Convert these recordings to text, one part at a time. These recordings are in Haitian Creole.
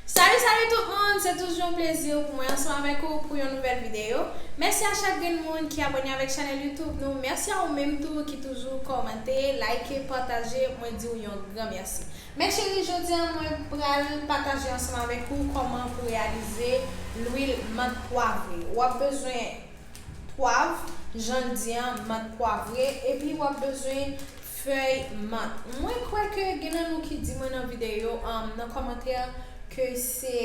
Salut salut tout moun se toujou yon plezi pou mwen ansanm avèk ou pou yon nouvèl video mèsi a chak grenn moun ki abòne avèk chanèl YouTube nou mèsi a ou menm tou ki toujou kòmante like pataje mwen diw yon gran mèsi mè cheri jodi an mwen pral pataje ansanm avèk ou kòman pou reyalize lwil mant pwavre wap bezwen pwav janl di an mant pwavre epi wap bezwen Fèy mant. Mwen kwè ke gen nan nou ki di mwen nan videyo an, nan kòmantè ke se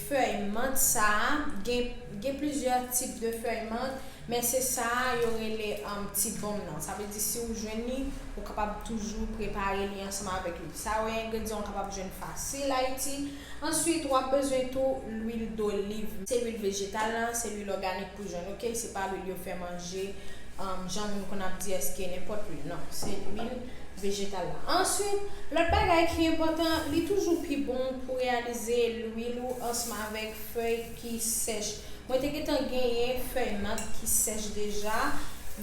fèy mant sa a, gen gen plizyè tip de fèy mant, men se sa a yo rele ti bonm nan. Sa vle di si ou jwenn li, ou kapab toujou prepare li ansanm avèk li. Sa yo engredyan ou kapab jwenn fasil Ayiti. Answit wap bezwen tou lwil doliv. Se lwil vejetal lan, se lwil òganik pou jòn ok, se pa lwil yo fè manje jan moun konn ap di eske nenpòt lwil non, se lwil vejetal la. Answit lòt bagay ki enpòtan li toujou pi bon pou reyalize lwil ou ansmavèk fèy ki sèch. Mwen te gentan genyen fèy nat ki sèch deja,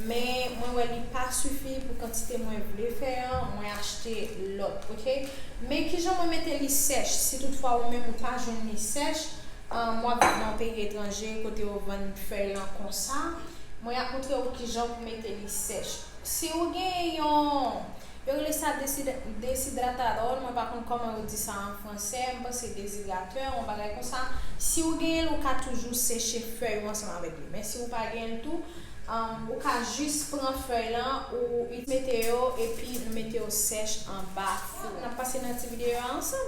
men mwen wè li pa sifi pou kantite mwen vle fè an, mwen achte lòt ok. Men kijan mwen mete li sèch si tout fwa ou menm ou pa jwenn li sèch, um wap viv nan yon peyi etranje kote yo vann fèy lan konsa, mwen ap montre ou kijan pou mete li sèch. Si ou gen yon Yo rele sa desidratadòl, mwen pa konn kòman yo di sa an fransè, m panse dezidratè, yon bagay konsa. Si ou genyen l, ou ka toujou seche fèy ou ansanm avèk li. Men si ou pa genyen l tou, ou ka jis pran fèy lan, ou itilize mete yo epi nou mete yo sèch anba fou. N ap pase nan ti videyo a ansanm.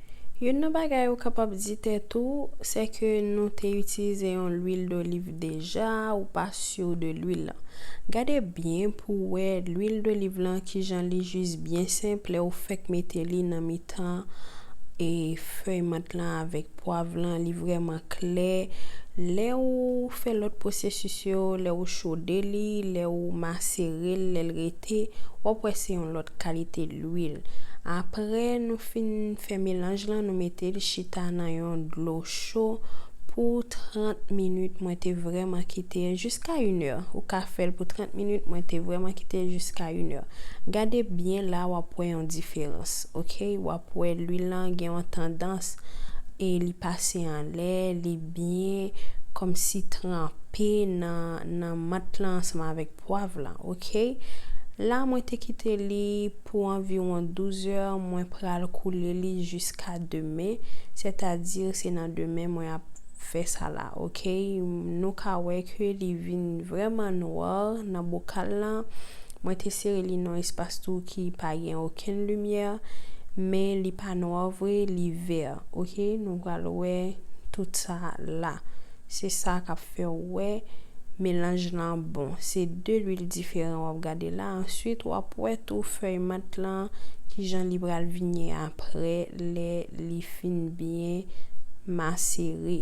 Youn nan bagay ou kapab di tèt ou, sè ke nou te itilize yon lwil doliv deja, ou pa sur de lwil lan. Gade byen pou wè lwil doliv lan kijan li jis byen senp lè ou fèk mete li nan mitan e fèy mant lan avèk pwav lan li vrèman klè, lè ou fè lòt pwosesis yo, lè ou chode li, lè ou maserel, lèl rete. te wap wè se yon lòt kalite lwil aprè nou fin fè melanj lan nou metel chita nan yon dlo cho pou 30 minit mwen te vrèman kitel jiska 1 è ou ka fèl pou 30 minit mwen te vrèman kitel jiska 1 è gade byen la wap wè yon diferans ok wap wè lwil lan gen yon tandans e li pase anlè li byen kòmsi tranpe nan nan mant lan ansanm avèk pwav lan ok la mwen te kite li pou anviwon 12 è mwen pral koule li jiska demen sètadi se nan demen mwen ap fè sa la ok nou ka wè ke li vin vrèman nwa nan bokal lan mwen te sere li nan espas tou ki pa gen okenn limyè men li pa nwa vre li vè ok nou pral wè tout sa la. Se sa kap fèw wè melanj lan bon. Se 2 lwil diferan wap gade la answit wap wè tou fèy mant lan kijan li pral vini aprè lè li fin byen masere.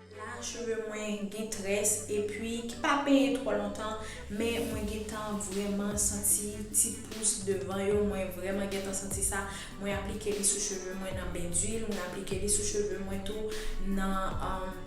La cheve mwen gen tres epi ki pa penyen tro lontan men mwen gentan vreman santi ti pous devan yo mwen vreman gentan santi sa mwen aplike li sou cheve mwen nan ben d'huile mwen aplike li sou cheve mwen tou nan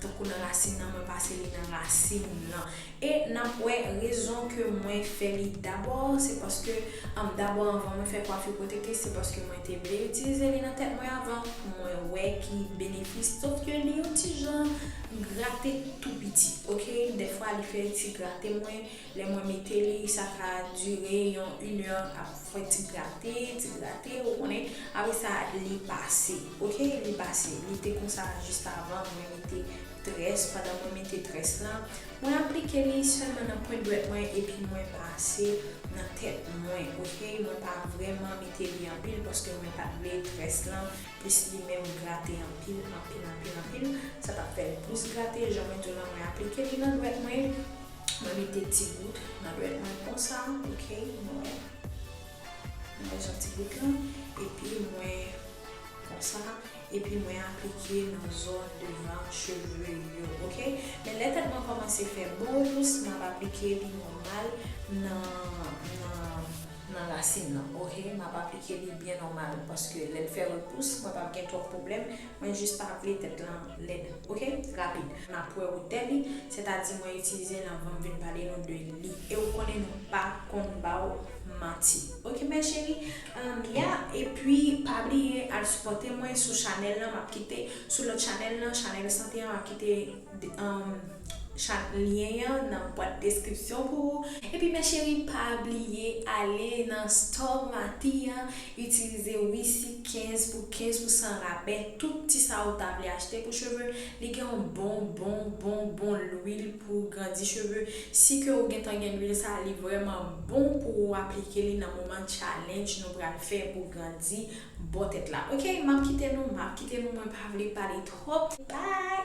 tankou nan rasin nan mwen pase li nan rasin lan E nap wè rezon ke mwen fè li dabò se paske an dabò anvan mwen fè kwafi pwoteke se paske mwen te vle itilize li nan tèt mwen avan pou mwen wè ki benefis sòf ke li yon ti jan grate tou piti ok dèfwa li fè ti grate mwen lè mwen mete li sa ka dire yon une heure ap fè ti grate ti grate ou konnen apresa li pase ok li pase li te konsa jis avan mwen mete Tres pandan mwen mete tres la mwen aplike li selman nan pwent dwèt mwen epi mwen pase nan tèt mwen ok mwen pa vreman mete li anpil paske mwen pat vle tres lan plis li menm grate anpil anpil anpil anpil sa tap fèl plis grate jan mwen diw lan mwen aplike li nan dwèt mwen mwen mete ti gout nan dwèt mwen konsa ok nou wè nou wè jan ti gout lan epi mwen konsa. epi mwen aplike nan zòn devan cheve yo ok men lè tèt mwen kòmanse fè bons map aplike li nòmal nan nan rasin nan ok map aplike li byen nòmal paske lèl fè repous mwen pap gen twòp pwoblèm mwen jis pa vle tèt lan lèd ok rapid map wè wotè li sètadi mwen itilize l anvan m vin pale nou de li e ou konnen nou pa konn baw manti ok ma chérie. Anmyya epi pa bliye al sipòte mwen sou chanèl lan map kite sou lòt chanèl lan chanèl sante an map kite lyen an nan bwat deskripsyon pou ou. Epi mes cheri pa bliye ale nan store mati an itilize wisi 15 pou 15 pousan rabè tout ti sa ou ta vle achte pou cheve li gen yon bon bon bon bon lwil pou grandi cheve si ke ou gentan gen lwil sa li vrèman bon pou ou aplike li nan moman challenge nou pral fè pou grandi bò tèt la ok map kite nou map kite nou mwen pa vle pale twòp bye.